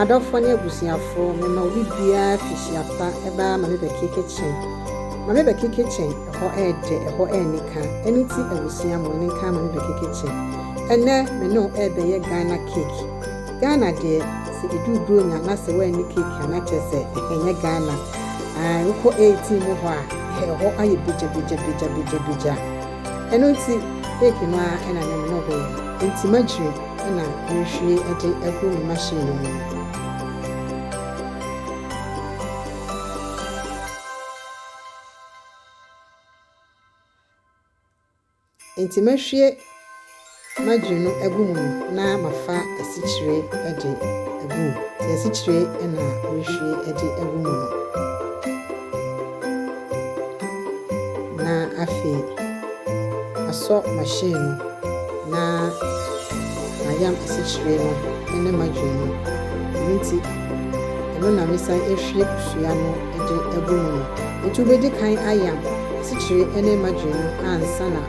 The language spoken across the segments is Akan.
Adɔfoɔ ne abusuafoɔ, me ma obi biara fi Hyiapa baa Mame Becky kitchen. Mame Becky kitchen, ɛhɔ ɛɛdɛ, ɛhɔ ɛɛnika, ɛno nti abusua mo ani nka Mame Becky kitchen. Ɛnɛ me ne wo ɛɛbɛyɛ Ghana cake. Ghana deɛ sɛ ɛduru Buronya na sɛ woanni cake a na kyerɛ sɛ ɛnyɛ Ghana. Wokɔ eighteen mu hɔ a, ɛhɔ ayɛ begyabegyabegyabegyabegya. Ɛno nti week no ara na me ne hɔ yi. Enti m'akyire na merehwie de agu me machine no mu no. Enti mɛhwie margarine no agu mu na mafa asikyire de agu mu. Nti asikyire na merehwie de agu mu no. Na afei asɔ machine no na mayam asikyire no ne margarine no. Ɛno nti. Ɛno na mesan ahwie kosua no de agu mu no. Enti wobedi kan ayam asikyire ne margarine no ansa na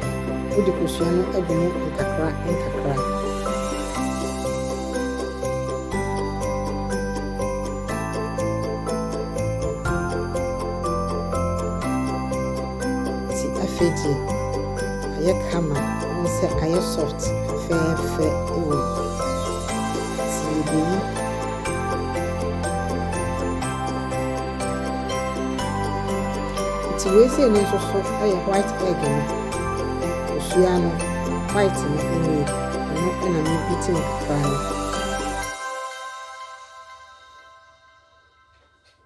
wode kosua no agu mu nkakra nkakra. Ti afei deɛ ayɛ kama, wohu sɛ ayɛ soft fɛɛfɛ wɔ mu. Ti yɛbɛyi. Nti wei sei no nso so yɛ white egg no, kosua no white no nie, ɛno na me beating kakra no.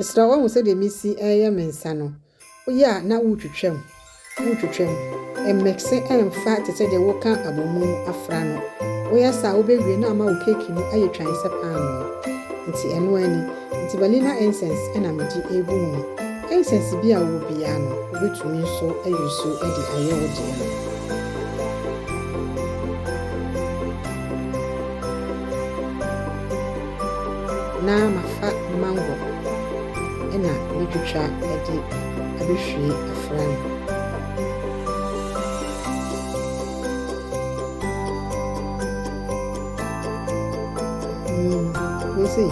Mesrɛ wo, woahu sɛdeɛ mesi reyɛ me nsa no? Woyɛ a na wotwitwam, wotwitwam. Ɛmmɛkse ɛmfa te sɛ deɛ woka abomu afra no. Woyɛ saa a, wobɛwie na ama wo keeki no ayɛ twann sɛ paanoo. Nti ɛno ara ni. Enti vanilla incense na mede regu mu. Incense bi a wowɔ biara no, wubetumi nso ayi so de ayɛ wo deɛ no. Na mafa mango na metwitwa de abɛhwie afra no. Wese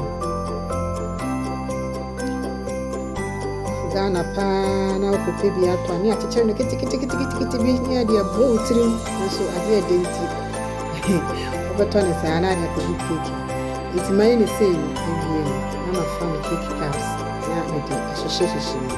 Ghana paa na wokɔpɛ bi atɔ a ne akyekyere no keteketeketekete bi ne ade abɔ wo tirim nso adeɛ ɛde nti wobɛtɔ ne saa na ade akɔgu keeki nti mayɛ ne sei no awie no na mafa me keeki cups na mede ahyehyɛhyehyɛ mu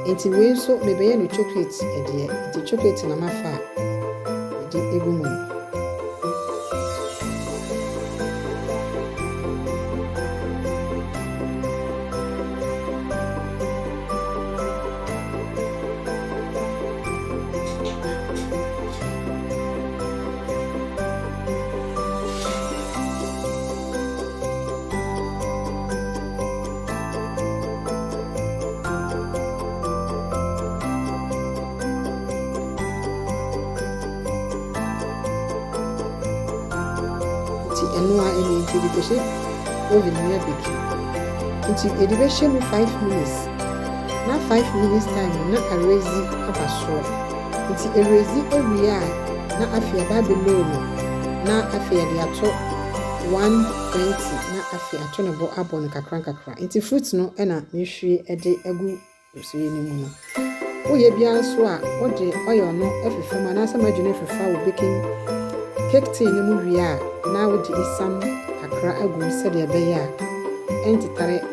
Enti wei nso mebɛyɛ no chocolate deɛ, nti chocolate na mafa de egu mu no. nti ɛno a ɛne nti de kɔhyɛ oven mu abɛki nti yɛde bɛhyɛ mu 5 minutes na 5 minutes time na arezi aba soɔ Ntsi eredzi ewie a, na afei aba below no, na afei yɛdze ato one twenty na afei ato no bo abɔ no nkakrankakra. Ntsi fruit no na mehwie dze agu nsuye no mu no. Woyɛ biara so a, wode oil no fefa mu anaasɛ margarine no fefa wo baking cake tin no mu wie a, na wode esiam kakra agu mu sɛdeɛ ɛbɛyɛ a ɛntetare.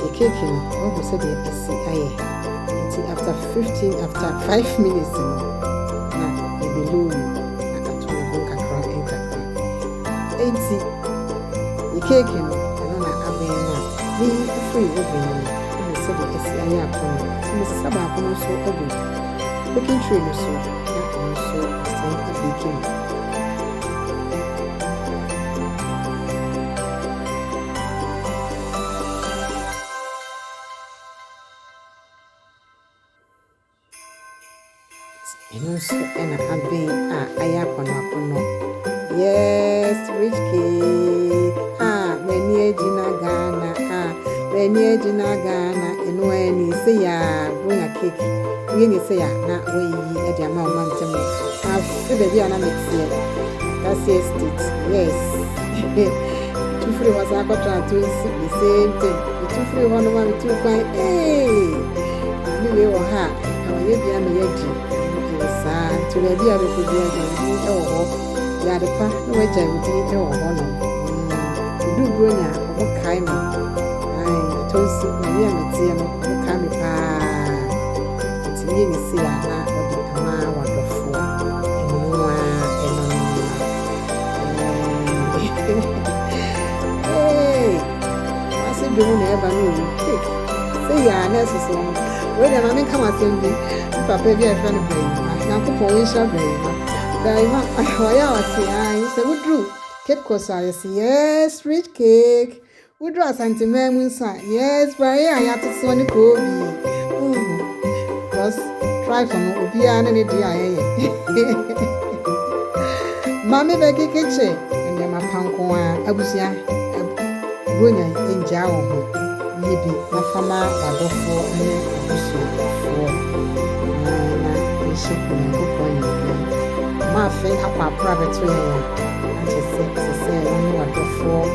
Yɛ cake no wahu sɛdeɛ asi ayɛ nti after fifteen after five minutes no na yɛ bɛloo mu akato ne ho nkakra nkakra nti yɛ cake no ɛno na abɛn no a ne yi firi oven no mu wahu sɛdeɛ asi ayɛ apɔn no nti me sesa baako no nso agu baking tray no so na ɔno nso asan abake mu. Ɛno nso na abɛn a ayɛ akɔnɔ akɔnɔ. Yes, rich cake. Ah, m'ani agyina Ghana. Ah, m'ani agyina Ghana. Ɛno ara ni sɛ yɛ a wonya cake. Woyɛ ni sɛ yɛ a na woyiyi de ama ɔma ntam. Afe baabi a na meteɛ. That's it. Yes. Metu firii hɔ san kɔtraa Tonsi, the same thing. Metu firii hɔ no ma metuu kwan, ee! Maame wei wɔ ha a, na wayɛ bi ama yɛadi. Ɛyɛ saa, nti baabi a bɛkɔ biara gyae wo din wɔ hɔ. Yɛ ade pa na wagyae wo din wɔ hɔ no. Meduu Buronya a, ɔmo kae me. Ae, Tonsi, Nyame a meteɛ no, ɔmo kae me paa. Nti yie ne sei a na ɔde ama w'adɔfoɔ. Ase dwom na ɛba no mu. Sɛ yɛ a na ɛsoso ho. Wei deɛ maame nka m'asɛm bi. Me papa bi a ɛfrɛ no Brayima. Nyankopɔn wɔnhyira Brayima. Brayima ɔyɛ a ɔse ae sɛ woduru Cape Coast a yɛse yes rich cake. Wodur Asanteman mu nso a, nea spraye a yɛate soɔ ne koobii. Wohu? Because trifle no, obiara ne ne deɛ a ɛyɛ. Mame Becky Kitche, nneɛma pa nko ara. Abusua, Buronya ngyaa wo ho. Yɛ bi na fa ma w'adɔfoɔ ne w'abusuafoɔ. Na yɛnhyɛ Onyankopɔn animuonyam. Mma afe akɔ akora bɛto yɛn a, na kyerɛ sɛ ɛsɛ sɛ wo ne w'adɔfoɔ